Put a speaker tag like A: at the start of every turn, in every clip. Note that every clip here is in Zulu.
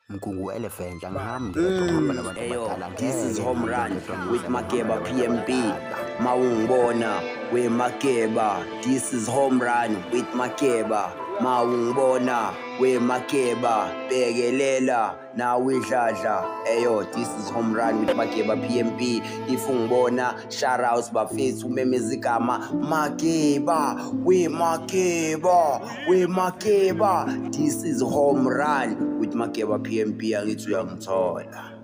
A: Mgungu Elephant angihamba ngedwa ngihamba nabantu Eyo, abadala this is ngeke home run
B: ngedwa ngidla with
A: nabantu
B: Makeba
A: PMB.
B: abadala. Mawungibona we Makeba. This is home run with Makeba. Mawungibona we Makeba. Bekelela nawe idladla. Eyo, this is home run with Makeba PMB. If ungibona shout out bafethu umemezigama Makeba we Makeba. we makeba this is home run with makeba pmp angithi uyangithola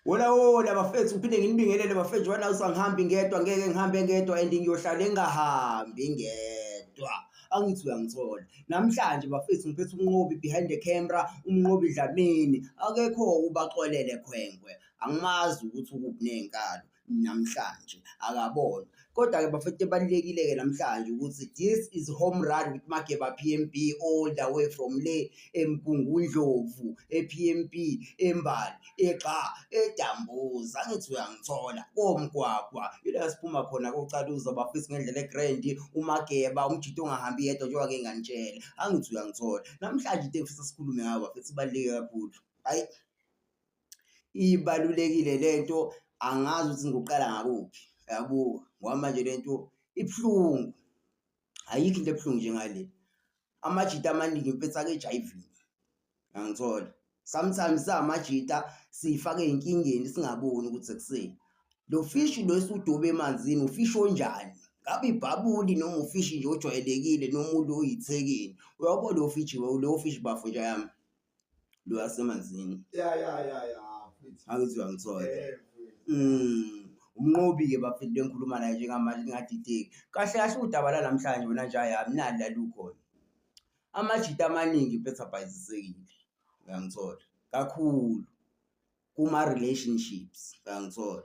B: Wola wola bafethu ngiphinde nginibingelele bafethu wena usangihambi ngedwa ngeke ngihambe ngedwa and ngiyohlala engahambi ngedwa angithi uyangithola namhlanje bafethu ngiphethe umnqobi behind the camera umnqobi dlamini akekho ubaxolele khwenkwe angimazi ukuthi ukuphi nenkalo namhlanje akabona kodwa-ke bafethu ebalulekile-ke namhlanje ukuthi this is home run with mageba p m b all the way from le emgungundlovu e-p m b embali egxa edambuza angithi uyangithola komgwagwa ila siphuma khona kocaluza bafisi ngendlela egrand umageba umjito ongahambi yedwa njengoba ke nganitshela angithi uyangithola namhlanje into engifisa sikhulume ngabo bafethu ibaluleke kakhulu hayi ibalulekile lento angazi ukuthi ngiqala ngakuphi yabuka ngoba manje lento ibuhlungu ayikho into ebuhlungu njengale amajita amaningi mfethu akejayivini angithola sometimes samajita siyifake enkingeni singaboni ukuthi sekuseni lo fishi lo esudobe emanzini ufishi onjani ngabe ibhabuli noma ufishi nje ojwayelekile noma ulo oyithekeni uyabo lo fishi lo fishi bafo nje yami lwasemanzini ya ya ya ya mfethu akuthiwa ngithole Eh, mfethu. Mm, umnqobi-ke bafethu bengikhuluma naye njengamanje lingadideki kahle kahle udaba lanamhlanje wena nje ayi amnandi lalukhona amajita amaningi phetha abhayizisekile uyangithola kakhulu kuma relationships uyangithola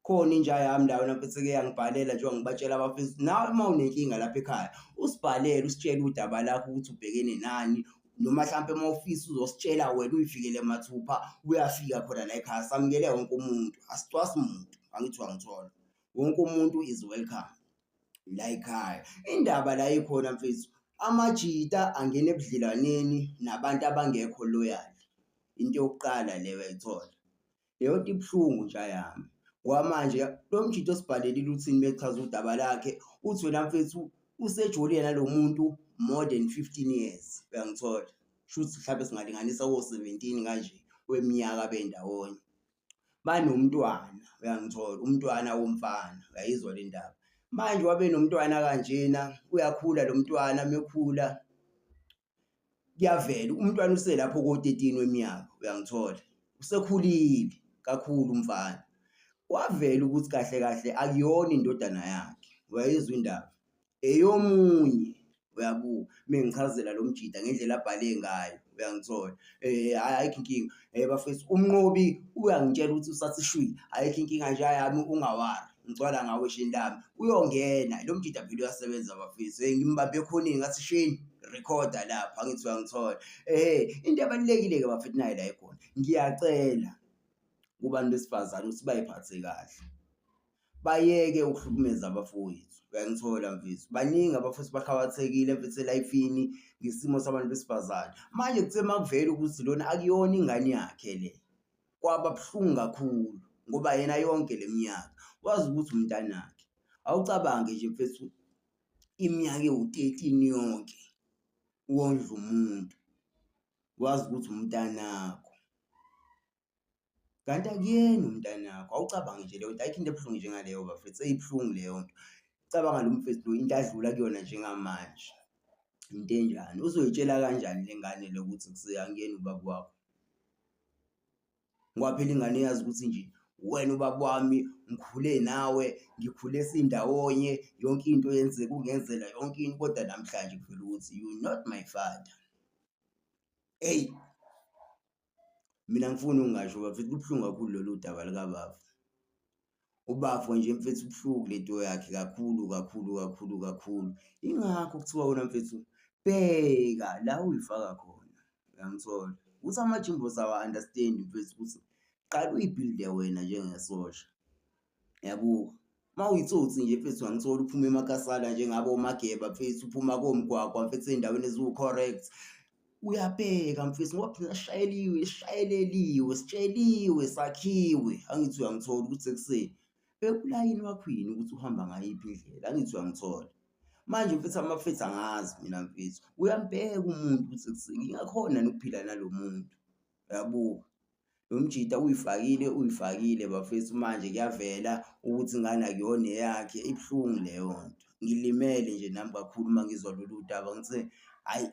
B: khona inja yami la wena mfethu ke yangibhalela njengoba ngibatshela abafethu nawe uma unenkinga lapha ekhaya usibhalele usitshele udaba lakho ukuthi ubhekene nani noma mhlawumpe uma ufisa uzositshela wena uyifikele mathupha uyafika khona la ekhaya samukele wonke umuntu asicwasi muntu angithi wangithola wonke umuntu is welcome la ekhaya. Indaba la ikhona mfethu, amajita angena ebudlelwaneni nabantu abangekho loyal. Into yokuqala le uyayithola. Leyo nto ibuhlungu nja yami. Ngoba manje lo mjita osibhalelile uthini uma echaza udaba lakhe, uthi wena mfethu usejolile nalo muntu more than fifteen years, uyangithola? Shuthi mhlampe singalinganisa ko-seventeen kanje weminyaka bendawonye. banomntwana uyangithola umntwana womfana uyayizwa le ndaba manje wabe nomntwana kanjena uyakhula lo mntwana mekhula kuyavela umntwana uselapho ko-13 weminyaka uyangithola usekhulile kakhulu umfana kwavela ukuthi kahle kahle akuyona indodana yakhe wayezwa indaba eyomunye uyabuka mengichazela lo mjida ngendlela abhale ngayo uyangithola eh ayikho inkinga eh bafethu umnqobi uyangitshela ukuthi usasishwile ayikho inkinga nje yami ungawari ngicwala ngawe shini lami uyongena lo mjida phela uyasebenza bafethu hey eh, ngimbambe khona ngathi shini recorda lapha angithi uyangithola eh into ebalekile ke bafethu nayo la ikhona ngiyacela kubantu besifazane ukuthi bayiphathe kahle bayeke ukuhlukumeza abafowethu uyangithola mfethu baningi abafowethu bakhawathekile mfethu elayifini ngesimo sabantu besifazane manje kuthe uma kuvela ukuthi lona akuyona ingane yakhe le kwaba buhlungu kakhulu ngoba yena yonke le minyaka wazi ukuthi umntanakhe awucabange nje mfethu iminyaka ewu-thirteen yonke wondla umuntu wazi ukuthi umntanakho Kanti akuyena umntanakho, awucabangi nje leyo nto, ayikho into ebuhlungu njengaleyo bafethu, seyibuhlungu leyo nto. Cabanga lo mfethu lo into adlula kuyona njengamanje, into enjani. Uzoyitshela kanjani le ngane le ukuthi sekuyena ubaba wakho? Ngoba phela ingane iyazi ukuthi nje uwena ubaba wami, ngikhule nawe, ngikhule sindawonye, yonke into yenzeka ungenzela yonke into kodwa namhlanje kuvela ukuthi you not my father. Eyi. Mina angifuni ungasho bafethu kubuhlungu kakhulu lolu daba likabafo. Ubafo nje mfethu ubuhlungu lento yakhe kakhulu kakhulu kakhulu kakhulu. Ingakho kuthiwa wena mfethu bheka la uyifaka khona. Uyangithola? Ukuthi amajimbosi awa-understand mfethu ukuthi qala uyibhilde wena njengesosha. Ngiyabuka. Uma uyitsotsi nje mfethu angitholi uphuma emakasana njengabo omageba mfethu uphuma komgwagwa mfethu endaweni eziwu-correct uyabheka mfethu ngoba phela sishayeliwe sishayeleliwe sitsheliwe sakhiwe angithi uyangithola ukuthi ekuseni bekulayini wakhwini ukuthi uhamba ngayiphi indlela angithi uyangithola manje mfethu amafethu angazi mina mfethu uyambheka umuntu ukuthi ekuseni ngingakhona nokuphila nalo muntu uyabuka lo mjita uyifakile uyifakile bafethu manje kuyavela ukuthi ingane akuyona eyakhe ibuhlungu leyo nto ngilimele nje nami kakhulu uma ngizwa lolu daba ngithe hhayi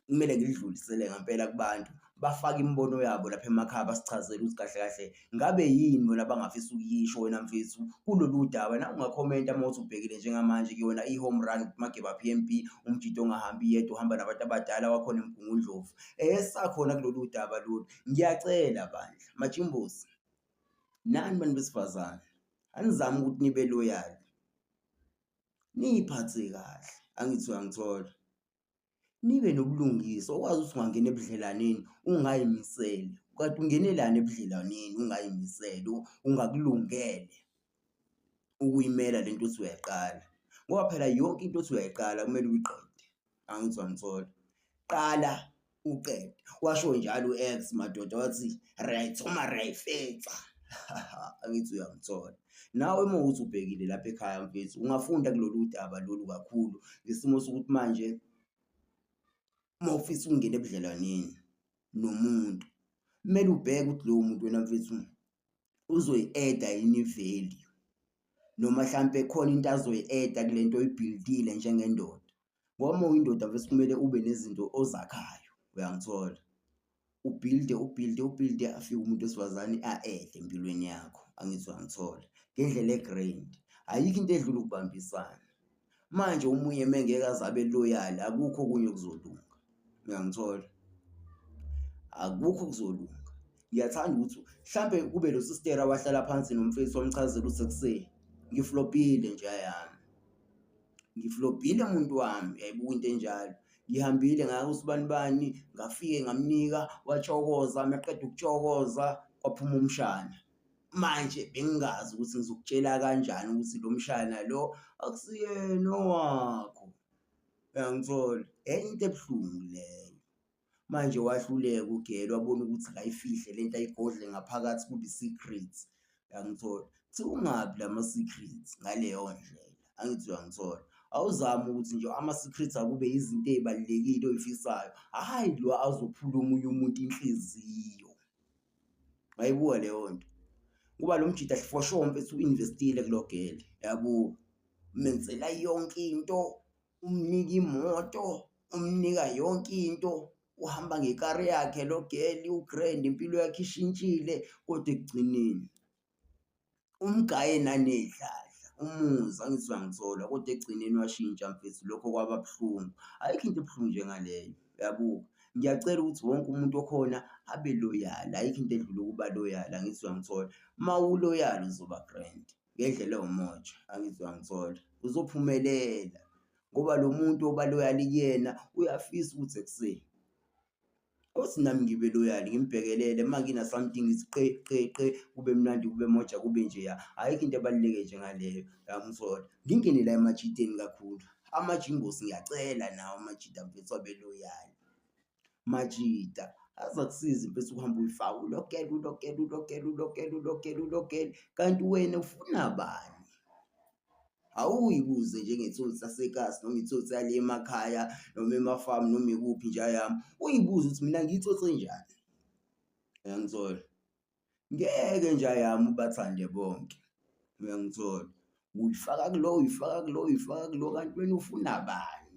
B: kumele ngilidlulisele ngempela kubantu bafake imibono yabo lapha emakhaya basichazele ukuthi kahle kahle ngabe yini bona bangafisa ukuyisho wena mfethu kulolu daba na ungakhomenta uma uthi ubhekile njengamanje kuyona i-home run mageba p m b umjito ongahambi yedwa uhamba nabantu abadala wakhona emgungundlovu esakhona kulolu daba lolu ngiyacela bandla majimbosi nani bantu besifazane anizami ukuthi nibe loyal niyiphathe kahle angithi uyangithola nibe nobulungiswa okwazi ukuthi ungangena ebudlelaneni ungayimiseli kanti ungenelani ebudlelaneni ungayimiseli ungakulungele ukuyimela le nto othi uyayiqala ngoba phela yonke into othi uyayiqala kumele uyiqede angithi wangithola qala uqede washo njalo u-ex madoda wathi right uma rayifetha angithi uyangithola nawe uma uthi ubhekile lapha ekhaya mfethu ungafunda kulolu daba lolu kakhulu ngesimo sokuthi manje uma ufisa ukungena ebudlelwaneni nomuntu kumele ubheke ukuthi lowo muntu wena mfethu uzoyi-eda yini i-value noma hlampe khona into azoyi-eda kule nto oyibhildile njengendoda ngoba uma uyindoda vese kumele ube nezinto ozakhayo uyangithola ubhilde ubhilde ubhilde afike umuntu wesifazane a-ede empilweni yakho angithi uyangithola ngendlela e-grand ayikho into edlula ukubambisana. Manje omunye mengeke aze abe loyal akukho okunye okuzolunga. Uyangithola? Akukho okuzolunga. Ngiyathanda ukuthi mhlampe kube lo sister wahlala phansi nomfethu wamchazela ukuthi sekuseni ngiflopile nje ayami. Ngiflopile muntu wami yayibuka into enjalo. Ngihambile ngaya kusibani bani ngafike ngamnika watshokoza maqeda ukutshokoza kwaphuma umshana. manje bengingazi ukuthi ngizokutshela kanjani ukuthi lo mshana lo akusiyena owakho uyangithola enye into ebuhlungu leyo manje wahluleka ugele wabona ukuthi kayifihle le nto ayigodle ngaphakathi kube i-secret uyangithola kuthi ungaphi la ma-secret ngaleyo ndlela angithi uyangithola awuzame ukuthi nje ama-secret akube izinto ey'balulekile oy'fisayo hhayi lo azophula omunye umuntu inhliziyo wayibuka leyo nto kuba lo mjita for sure mfethu uinvestile kulo gele yabo menzela yonke into umnika imoto umnika yonke into uhamba ngekari yakhe lo gele ugrand impilo yakhe ishintshile kodwa ekugcineni umgaye nanedladla umuzi angizwa ngithola kodwa ekugcineni washintsha mfethu lokho kwaba buhlungu ayikho into ebuhlungu njengaleyo uyabuka ngiyacela ukuthi wonke umuntu okhona abe loyala ayikho into edlula ukuba loyala angizwa ngithola uma uloyala uzoba grand ngendlela ewumoja angizwa ngithola uzophumelela ngoba lo muntu obaloyali kuyena uyafisa ukuthi ekuseni Cause nami ngibe loyal ngimbhekelele uma ngina something ngithi qe qe qe kube mnandi kube moja kube nje ya ayikho into ebaluleke nje ngaleyo yamsola ngingene la emajiteni kakhulu amajingosi ngiyacela nawo amajita mfethu abe loyal majita azakusiza impela ukuhamba uyifaka ulokele ulokele ulokele ulokele ulokele ulokele kanti wena ufuna bani awuyibuze nje ngetholi sasekasi noma itholi sale emakhaya noma emafamu noma ikuphi nje yami uyibuze ukuthi mina ngiyithothe njani uyangithola ngeke nje yami ubathande bonke uyangithola uyifaka kulo uyifaka kulo uyifaka kulo kanti wena ufuna bani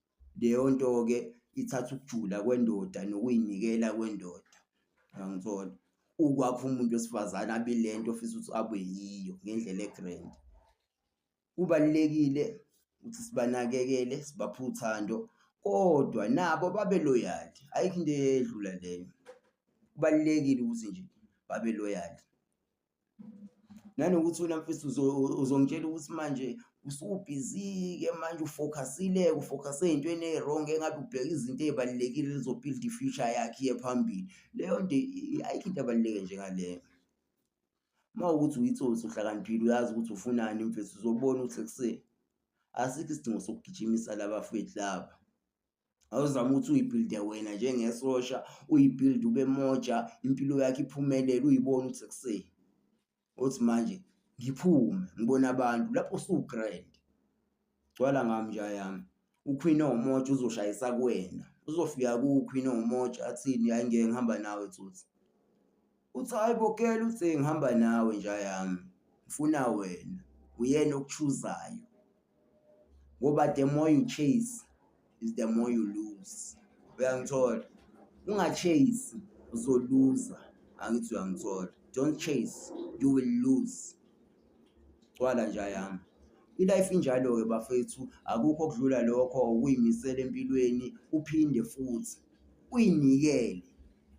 B: Leyo nto-ke ithatha ukujula kwendoda nokuyinikela kwendoda, uyangithola? Ukwakha umuntu wesifazane abe ile nto ofisa ukuthi abe yiyo ngendlela e-grand. Kubalulekile ukuthi sibanakekele, sibaphe uthando kodwa nabo babe loyal, ayikho into edlula leyo. Kubalulekile ukuthi nje babe loyal. nanokuthi wena mfethu uzongitshela ukuthi manje usubhizi-ke manje ufocusile ufocuse ey'ntweni eyi-wrong engabe ubheka izinto ey'balulekile lizobuild i-future yakhe iye phambili leyo nto ayikho into ebaluleke njengaleyo uma ukuthi uyitsotsi uhlakaniphile uyazi ukuthi ufunani mfethu uzobona ukuthi ekuseni asikho isidingo sokugijimisa laba fethu laba awuzama ukuthi uyibhilde wena njengesosha uyibhilde ube moja impilo yakho iphumelele uyibone ukuthi sekuseni othi manje ngiphume ngibona abantu lapho usugrand gcwala ngami nja yami uQueen omoja uzoshayisa kuwena uzofika kuQueen omoja athini hayi ngeke ngihamba nawe tsotsi Uthi hayi bo girl uthe ngihamba nawe nja yami ngifuna wena uyena okuchuzayo ngoba the more you chase is the more you lose uyangithola ungachase uzoluza angithi uyangithola don't chase you will lose cwala nja yami ilife injalo-ke bafethu akukho okudlula lokho ukuyimisela empilweni uphinde futhi uyinikele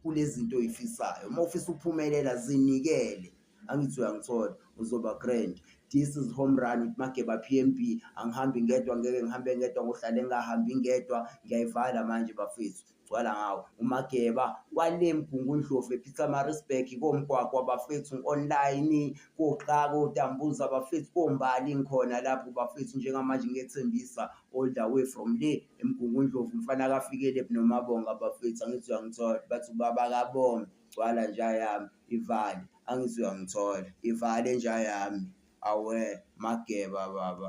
B: kulezinto oyifisayo uma ufisa ukuphumelela zinikele angithi uyangithola uzoba grand this is home run with mageba pmb angihambi ngedwa ngeke ngihambe ngedwa ngohlale ngingahambi ngedwa ngiyayivala manje bafethu gcwala ngawo umageba kwale mgungundlovu epitamarisburg komgwaqo abafethu ngi-online koxaka otambuza abafethu kombali ngikhona lapho bafethu njengamanje ngiyethembisa all the way from le emgungundlovu mfana kafikele nomabonga abafethu angithi uyangithola bathi ubaba kabonga gcwala nja yami ivale angithi uyangithola ivale nja yami awe mageba baba